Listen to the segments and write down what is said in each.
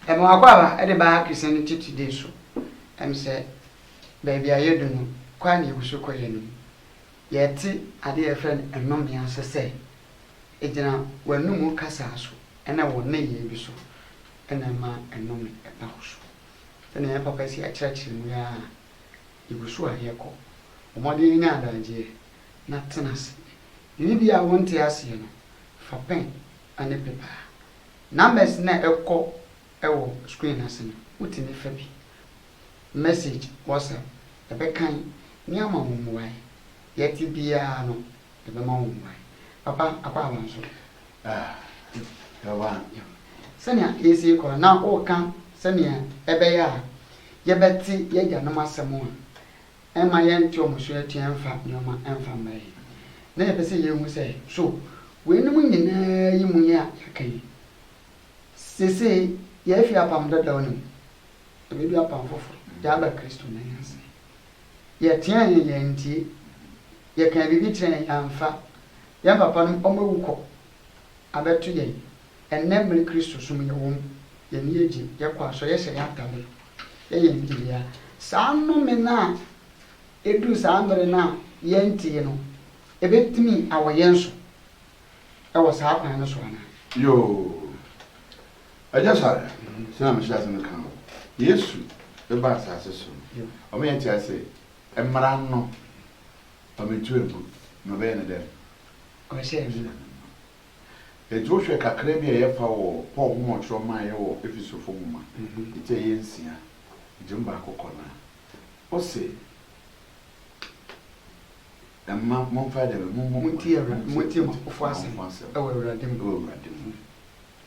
ɛmɛ wakɔ aba ɛde ba akisɛ ne titi de so ɛm sɛ baabi a yɛdu no kɔ a ne yɛgu so kɔ yɛ no yɛte ade a yɛfrɛ no ɛnome ase sɛ ɛgyina w'anomu kasa so ɛna wɔ nneyɛe bi so ɛna ɛma ɛnome ɛba wo so Sɛnea yɛn papa si akyerɛkyerɛ no ara, yegu so a yɛkɔ. Bɔ mmɔden nya adagyeɛ, na tena ase. Biribi a wonte aseɛ no, fa pɛn ne pepa. Numbers no a ɛkɔ wɔ screen no ase no, wotumi fa bi. Message WhatsApp, yɛbɛkan ne ama wo mmuae. Deɛ ɛte biara no, yɛbɛma wo mmuae. Papa Akwaaba nso, Sɛnea yɛasi rekɔ no, na woreka sɛnea ɛbɛyɛ a yɛbɛte y'agyanom asɛm a ɛmma yɛnte wɔn so atua mfa nneɛma mfa mmrɛ yɛn. Na yɛpɛ sɛ yɛhu sɛ, so weinom nyinaa yi mu nea yɛaka yi, seesei yɛafi apam dadaw no mu, na yɛadu apam foforo, yɛaba Kristo nan ase. Yɛteɛɛ he yɛantie. Yɛkaa biribi kyerɛɛ he yɛamfa. Yɛ papanom ɔmawu kɔ abɛto yɛn. Ɛnnɛ mmere Kristo som yɛwɔ mu. Y'ani agye, yɛkɔ asɔre, yɛhyɛ yɛ atade, yɛ yɛn biribiaa. Saa nnome no a eduu saa mmere no a yɛantie no, ebetumi awɔ yɛn so wɔ saa kwan no so anaa? Yoo. Agya Sɔre, sɛnea a mehyɛɛ ase meka no, Yesu bɛba asase so no, ɔma yɛte ase sɛ mmara no, ɔbɛtu agu na ɔbɛyɛ no dɛn? Ɔbɛhyɛ yɛn mmara. Enti wohwɛ kakra bi a yɛfa wɔ Paul homa ɔtwerɛ maayɛ wɔ Efesofo nwoma ti a ɛyɛ nsia gye mu baako kɔ no a, ose, Mma momfa dɛn? Mommu mo ho. Montie mo apofo asɛm wɔ Awurade mu.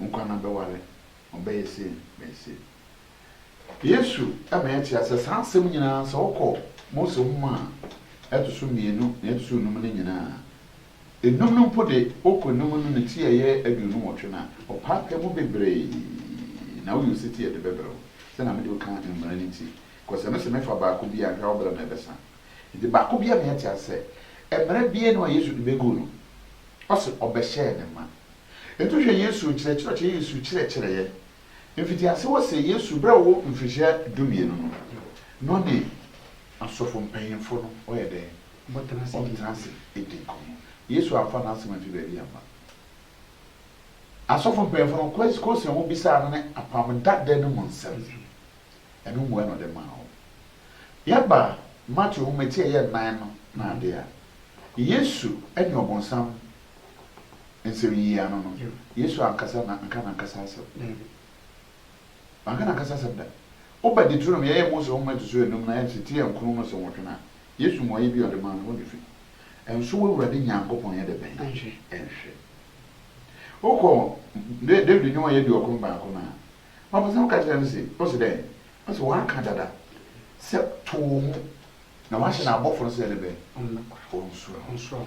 Nkwa no bɛware, ɔbɛyɛ sei, ɔbɛyɛ sei. Yesu ma yɛte aseɛ saa nsɛm nyinaa sɛ wokɔ Mose nwoma a ɛto so mmienu na ɛto so nnum no nyinaa a, nnum no mpo de wokɔ nnum no ne ti a ɛyɛ aduonu nwɔtwe no a, ɔpaepae mu bebree na woyɛ osetie a ɛde bɛbrɛ wo sɛ na mede wo ka mmara no ti kɔ sɛ me se mefa baako bi a hwɛ a wo berɛ no ɛbɛsa. Nti baako biara ma yɛte aseɛ sɛ mmara biara nni hɔ a Yesu de bɛguu no, ɔse ɔbɛhyɛɛ ne ma. Nto hwɛ Yesu nkyerɛkyerɛ ɔkyɛ yɛ nsu kyerɛkyerɛ yɛ. Mfitiase hɔ se Yesu berɛ a ɔwɔ mfirihyia dumienu no, na ɔne asɔfo mpanyimfo no ɔyɛ dɛn? Ɔtena ase di nkɔmmɔ. Yesu amfa n'asɛm amfi baabi amma. Asɔfo mpanyimfo no question a wɔbisaa no ne apam dada no mu nsɛm. Ɛno mmua na ɔde maa wɔn. Yɛba Mateo nwoma ti a ɛyɛ nnan no na ade a, Yesu ne ɔbonsam nsɛm yiye ano no, Yesu ankasa na anka n'ankasa asɛm. Wanka n'ankasa asɛm da. Woba Deuteronomy, yɛyɛ Mose Nhoma a ɛto so anum na yɛte Ti Ankron no so nwɔtwe no a, Yesu mmuae bi a ɔde maa no, hɔ na efi. Ɛnso w'Awurade Nyankopɔn yɛ dɛbɛn? Ɛnhwɛ. Wokɔ David Nnwom a ɛyɛ aduɔkron baako no a, ɔpɛ sɛ ɔka kyerɛ no se, ose dɛn? Ose waka dada sɛ, To wo ho, na wahyɛ n'abɔfo no sɛ yɛdɛbɛn? Wɔnsoa wo.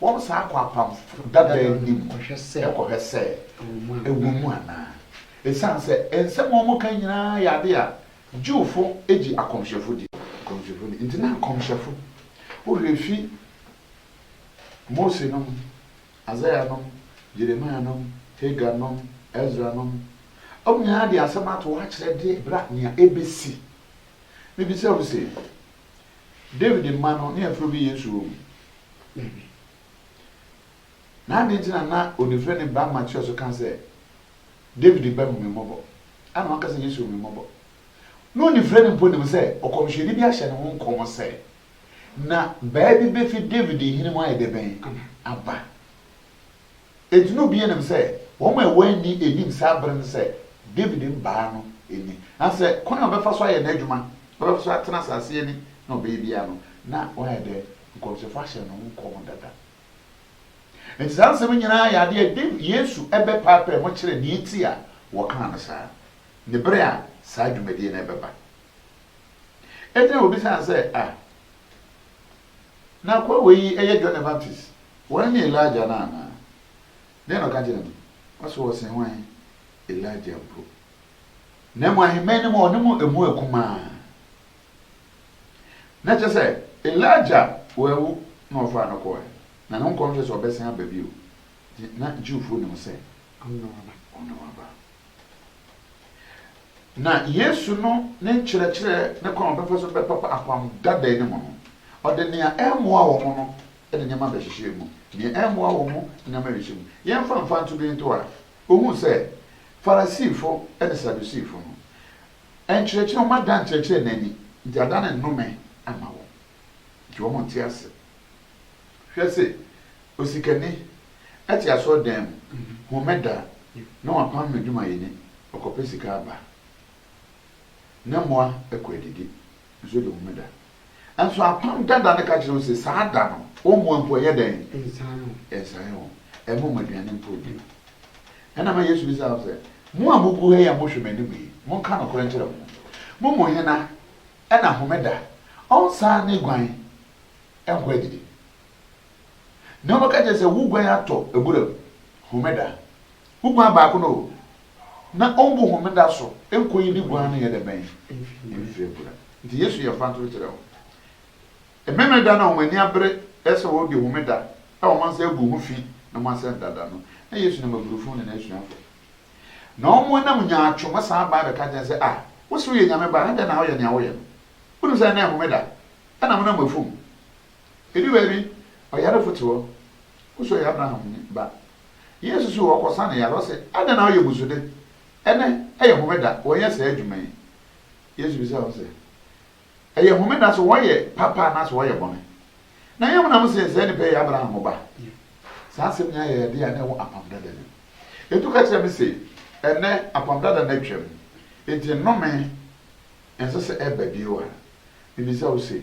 Wɔbɛsan akɔ apam dadaw no mu akɔhwɛ sɛ ɛwom mu anaa. Esiane sɛ nsɛm a wɔka nyinaa yɛ ade a Jewfo gye akɔmhyɛfo di nti, na nkɔmhyɛfo werɛ fi Mose nom, Isaiah nom, Jeremiah nom, Hagar nom, Ezra nom. Wɔn nyinaa de asɛm atow akyerɛ de bra nea ebesi. Mibisa wo se. Dawid mma no ne afuro bi yɛ nsu wɔ mu? Dabi. Na adɛn nti na na onifirani baa Mateus ka sɛ, Dawid ba, hu me mmɔbɔ? Ana wanka sɛ, Yesu, hu me mmɔbɔ? Ná onifirani mpo nim sɛ ɔkɔmhyɛni bi ahyɛ ne ho nkɔm sɛ, Na baa bi befi Dawid hene mu ayɛ dɛbɛn aba. Enti na obiara nim sɛ wɔn a wɔanni anim saa bere no sɛ Dawid mbaa no ni. Nanso sɛ kwan a ɔbɛfa so ayɛ n'adwuma, ɔbɛfa so atena asase ani na ɔbɛyɛ biara no, na wɔayɛ dɛ nkɔmhyɛfo ahyɛ no ho nkɔm dada. Enti saa nsɛm yi nyinaa yɛ ade a Dawid, Yesu bɛpaapae mu kyerɛ nea enti a wɔkaa no saa, ne bere a saa dwumadi no bɛba. Enti na wobisaa sɛ, Ah! Na kurobow yi yɛ John the Baptist, wɔn ne Elijah no anaa? Dɛn na ɔka kyerɛɛ no? Ɔse wɔsen hwan? Elijah mpo. Na mmom ahemman no mu a ɔne mo emu akumaa. Na kyerɛ sɛ, Elijah wawu na wɔfaa no kɔɔɛ. Na ne nkɔmhyɛ sɛ ɔbɛsan aba bio nti, na Jewfoɔ nim sɛ ɔno na waba. Na Yesu no ne nkyerɛkyerɛ ne kwan a ɔbɛfa so bɛpapa apam dada no mu no, ɔde nea ɛremmoa wɔn no de nneɛma bɛhyehyɛɛ mu, nea ɛremmoa wɔn no de nneɛma bɛhyehyɛɛ mu. Yɛmfa mfa nto bi nto a, wohu sɛ Farisifo ne Sadusifo no, nkyerɛkyerɛ, wɔada nkyerɛkyerɛ no ani, nti ada no nnome ama wɔn, nti wɔnte ase. Hwɛ se, osikani. Ɛte asɔrdan mu, Homeda na wɔapam no adwumayɛni ɔkɔpɛ sika aba. Ne mmoa kɔ adidi nso de Homeda. Nanso apam dada no ka kyerɛ wo se saa da no wo mmoa mpo ɛnyɛ dɛn? Ɛnsae wo. Ɛmma wɔn aduane mpo bio. Ɛna ma Yesu bisaa wɔn sɛ, Mo a mogu ha yi a mohwɛ m'anim yi, monka nokorɛ nkyerɛ mo ho. Mo mu hena na Homeda ɔnsan ne guan nkɔ adidi? Na wɔbɛka akyerɛ no sɛ, Wo guan atɔ abura mu Homeda, wo guan baako no o, na ɔmmu Homeda so nkoyi ne guan no nyɛ dɛ bɛn mfi abura. Enti Yesu yɛ mfatoho kyerɛ wɔn. Memeneda no a wɔn ani abere sɛ wɔredi Homeda a wɔn nsa agu ho fi na wɔn asɛn dada no, na Yesu nam abirifo ne n'asuafo. Na wɔnam nyaatwom ma saa bae bɛka kyerɛ no sɛ, Ah, wose woyɛ Nyame Ba a, adɛn na woyɛ nea woyɛ no? Wunim sɛ nnɛ yɛ Homeda, na amena mu afuw, Edu baabi, ɔyarefo te hɔ, wuso ɔyɛ Abraham ba. Yesu so ɔkɔsa no yare, ɔse, Adɛn na woyɛ mmusude? Ɛnnɛ, ɛyɛ homeda, wɔnyɛ saa adwuma yi. Yesu bisa wɔn sɛ, Ɛyɛ homeda so wɔyɛ papa anaasɛ wɔyɛ bɔne? Na yɛn mu na mose saa nipa yi yɛ Abraham ba? Saa asɛm nyinaa yɛ ade a na ɛwɔ Apam Dada no mu. Edu ka kyerɛ me se, Ɛnnɛ, Apam Dada no atwam, enti nnome ɛnsɛ sɛ ɛba bio a. Mibisa wo se,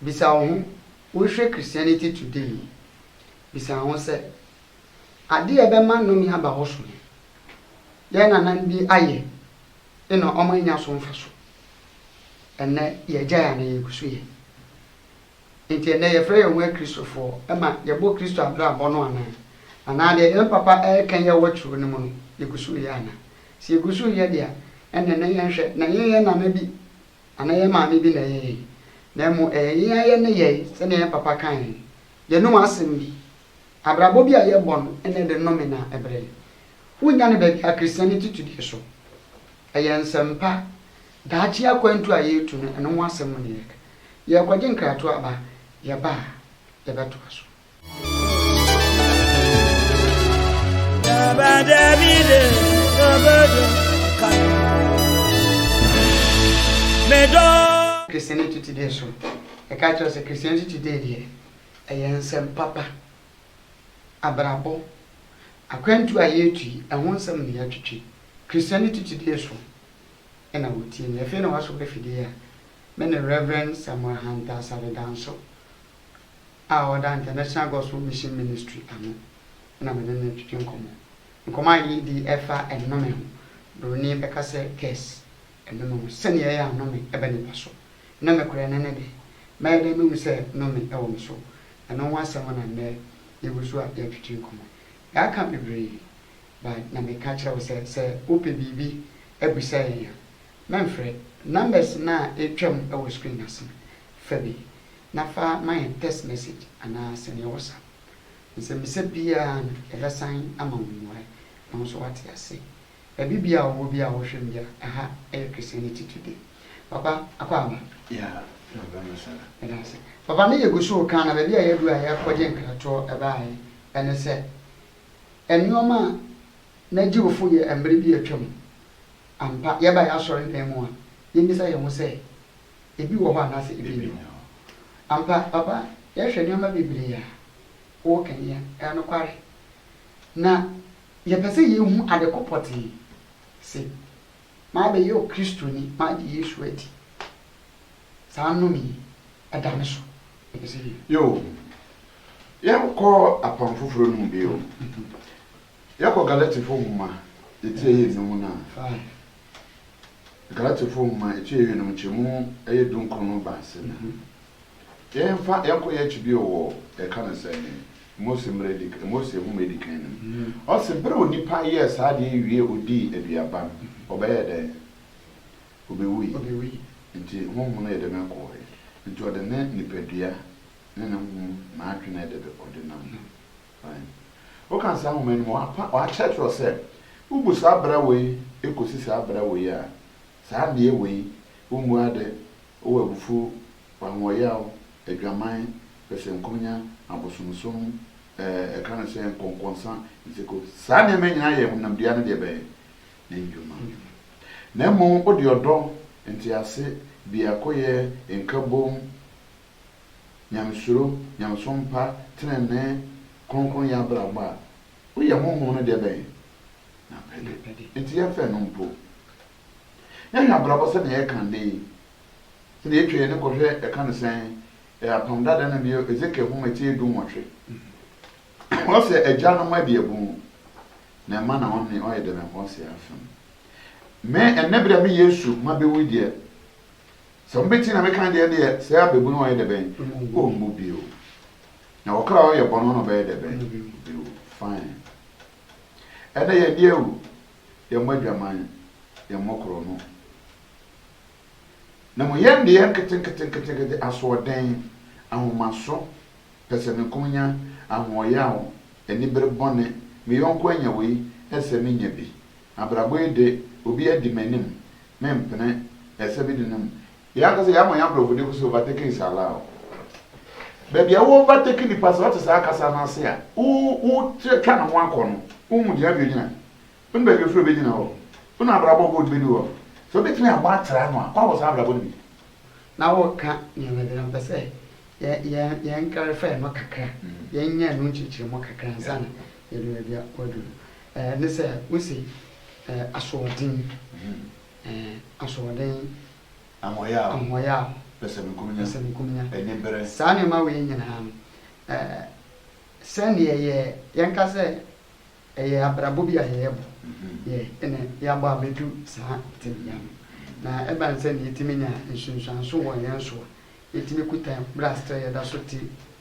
Bisa wo ho, Worehwɛ Christianity Today yi? Bisa wo ho sɛ, Ade a ɛbɛma nnome aba hɔ so he, yɛn nananom bi ayɛ na wɔannya so mfaso. Ɛnnɛ, yɛagyae anaa yegu so yɛ? Nti ɛnnɛ yɛfrɛ yɛn ho Akristofoɔ ma yɛbɔ Kristo abrabɔ no anaa? Anaa deɛ yɛn papa ɛɛka yi a ɛwɔ twerɛ no mu no, yɛgu so yɛ anaa? Sɛ yɛgu so yɛ deɛ a, ɛnneɛ na yɛnhwɛ na yɛnyɛ nana bi. anaa yɛn maame bi na ɛyɛ yɛn, na mmom ɛyɛ yɛn ara yɛn nneyɛe, sɛnea yɛn papa kae no, yɛnom asɛm bi, abrabɔ bi a yɛbɔ no na ɛde nnome na ɛbrɛ. Wonnya no baabi Akristiani atitudi so. Ɛyɛ nsɛm pa, daakye akwantu a yɛretu no, ɛno ho asɛm na yɛreka. Yɛrekɔgye nkratoaba, yɛba a, yɛbɛtoa so. Christianity Today nso, ɛka kyerɛ sɛ Christianity Today deɛ, ɛyɛ nsɛm papa, abrabɔ, akwantuo a yɛretu yi, ɛho nsɛm na yɛatwitwi. Christianity Today so na wɔtie me. Afei na wɔasɔ m'afidie a me ne Rev. Samuel Hunter Asare Danso a ɔda International Gospel Mission Ministry ano na me ne no retwetwe nkɔmmɔ. Nkɔmmɔ a yɛredi fa nnome ho. Buroni bɛka sɛ, Kes, nnome ho, sɛnea ɛyɛ a nnome ba nnipa so. Nnome korɛ no ne dɛn? Mɛyɛ dɛn mahu sɛ nnome wɔ me so? Ɛno ho asɛm na nnɛ yɛgu so a yɛretwetwe nkɔmmɔ. Yɛaka bebree, but na meka kyerɛ wo sɛ, sɛ wopɛ biribi abisa yɛn a, mɛmfrɛ. Numbers no a ɛretwam wɔ screen no ase no, Fa bi, na fa ma yɛn text message anaa sɛnea wo sa nsɛmmisa biara no, yɛbɛsan ama wo mmuae, na wo nso woate ase. Baabi biara a wowɔ biara a wohwɛ me biara, ɛha yɛ Christianity Today. Papa, akɔ aba? Yeah, maba masala. Meda ase. Papa, me yɛgu so reka na baabi a yɛadu a yɛrekɔgye nkratoɔ baeɛ ɛne sɛ, nnoɔma a na Jewfo yɛ mmerɛ bi a atwam, ampa, yɛba yɛn asɔredan mu a, yɛmmisa yɛn ho sɛ, ebi wɔ hɔ anaasɛ ebi nni hɔ. Ampa, papa, yɛhwɛ nneɛma bebree a wowɔ ka ni a, ɛyɛ nokware. Na yɛpɛ sɛ yehu ade ko pɔtee se, Mabɛyɛ Okristoni, magye Yesu adi. Saa nnome yi, ɛda me so. Yɛpɛ sɛ yehu. Yiw, yɛnkɔ Apam Foforo no mu bio. Yɛkɔ Galatifo nhoma atiayi nnum no a, Galatefo nhoma akyi awiei no nkyɛmu ɛyɛ dunkron no ba ase na yɛmfa yɛnkɔ yɛn akyi bio wɔ yɛka no sɛ Mose mmara edi kan Mose nhoma edi kan no mu ɔse bere a onipa yɛɛ saa adeɛ yi wie odii aduaba no ɔbɛyɛɛ dɛn? Obewui nti honhom no yɛ dɛn ɛkɔɔɛ nti ɔde ne nipadua ne ne honhom n'adwene ɛde ɔde nam Aane. Wokan saa nwoma no mu a, wɔakyerɛkyerɛ sɛ, Wobu saa bra wei kɔsi saa bra wei a, saa nneɛ wei, wommu ade, wowɔ abufuo, ahoɔyaw, adwaman, pɛsɛnkonya, abosomsom, ɛɛ ɛka no sɛn, nkɔnkɔnsa, nseku, saa nneɛma yi nyinaa yɛ honam dua no deɛ bɛn? Ne nnwuma. Na mmom wode ɔdɔ, ntease, biakoyɛ, nkabom, nyamesuro, nyamesom pa, trenee, kronkronyɛ abrabɔ a, woyɛ honhom no deɛ bɛn? N'apɛde. Enti yɛmfa ɛno mpo. Yɛhwɛ abrabɔ sɛdeɛ ɛyɛ kan de yi, sɛdeɛ yɛtwa yɛn ani kɔhwɛ ɛka no sɛn? Ɛyɛ Apam Dada no bio, Ezekiel nwoma ti dunwɔtwe. Ɔsɛ agya no mma abiɛbu, na ɛma na ɔne ɔyɛ dɛbɛnbɔnseɛ afem. Me, ɛnnɛ berɛ a me Yesu mma bɛwu yi deɛ, Sɛ mobɛtie na meka deɛ deɛ sɛ abɛbu no ɔyɛ dɛbɛn? Ɔmmu bio. Na ɔkra a ɔyɛ bɔne no ɔbɛyɛ dɛbɛn? Ɔbɛwu. Fine. Ɛnɛ yɛn deɛ awu, yɛn mmɔ adwaman, yɛn mmɔ korɔno. Na mmom yɛn deɛ nketenketenketenkete, asoɔden, ahomaso, pɛsɛmenkominya, ahoɔyaw, anibere bɔne, me yɔnko anya wei, ɛsɛ sɛ menya bi, Abrabɔ yi de, obi adi m'anim, mempene, ɛsɛ me di no mu. Yɛn ankasa yɛama yɛn abrɔfo de kɔsi overtaking is allowed. Baabi a wo overtake nnipa sɛ ɔte saa kasa no ase a wo wo twa ne ho akɔ no, wo hu deɛ baabi ogyina. Wo nim baabi ofiri obegyina hɔ. Wo nim abrabɔ God bedi hɔ. Sɛ obetumi abɔ atra ano a, wabɔ saa abrabɔ no bi. Na wo ka nneɛma bi na mpɛ sɛ yɛn yɛn yɛn clarify no kakra, yɛn nya ɛno nkyekyeremu kakra ansa na Yɛde baabi a wɔadu no. Ɛɛ, ne sɛ wose, ɛɛ, asoɔden, ɛɛ, asoɔden. Ahoɔyaw. Ahoɔyaw. Pɛsɛmenkominya. Pɛsɛmenkominya. Anibere. Saa nneɛma wei nyinaa no, ɛɛ, sɛdeɛ yɛ, yɛnka sɛ ɛyɛ abrabɔ bi a yɛrebɔ, yɛ, ɛna yɛabɔ abɛdu saa tebea no. Na ɛbane sɛ nea yɛtumi nya nsunsuanso wɔ yɛn so a, yɛtumi kuta bere a sɛ yɛda so te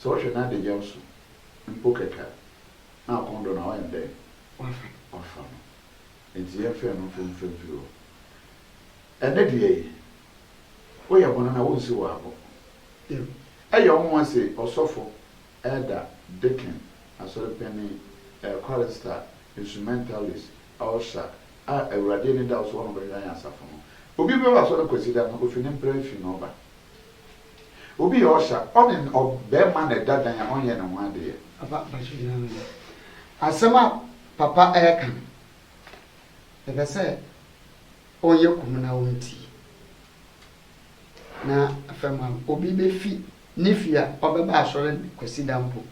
Sɛ ɔhwɛ n'adagyaw so mpo kɛkɛ a, na akɔn dɔ no a, ɔyɛ no dɛn? Wafa no. Enti yɛmfa ɛno mfa mfa mfiri hɔ. Ɛnnɛ de yɛn, woyɛ hɔnana a, wonsiw wo abo. Ɛyɛ nwonwa se ɔsɔfo, elder, deacon, asɔre panyin, ɛɛkwarister, instrumentalist, usher, a Awurade ani da wo so wɔ no bɛhwɛ ayɛn asafo no. Obi bɛba asɔre Kwasida no, ofi ne mpra fi na ɔba. Obi yɛ ɔsha ɔne ɔbɛɛma na ɛda dan a ɔnyɛ ne ho adeyɛ. Papa mpakyɛw gyina ano no asɛm a papa ɛɛka no mepɛ sɛ ɔnyɛ komm na ɔntie na afɛm a obi bɛfi ne fie a ɔbɛba asɔre kwasida mpo.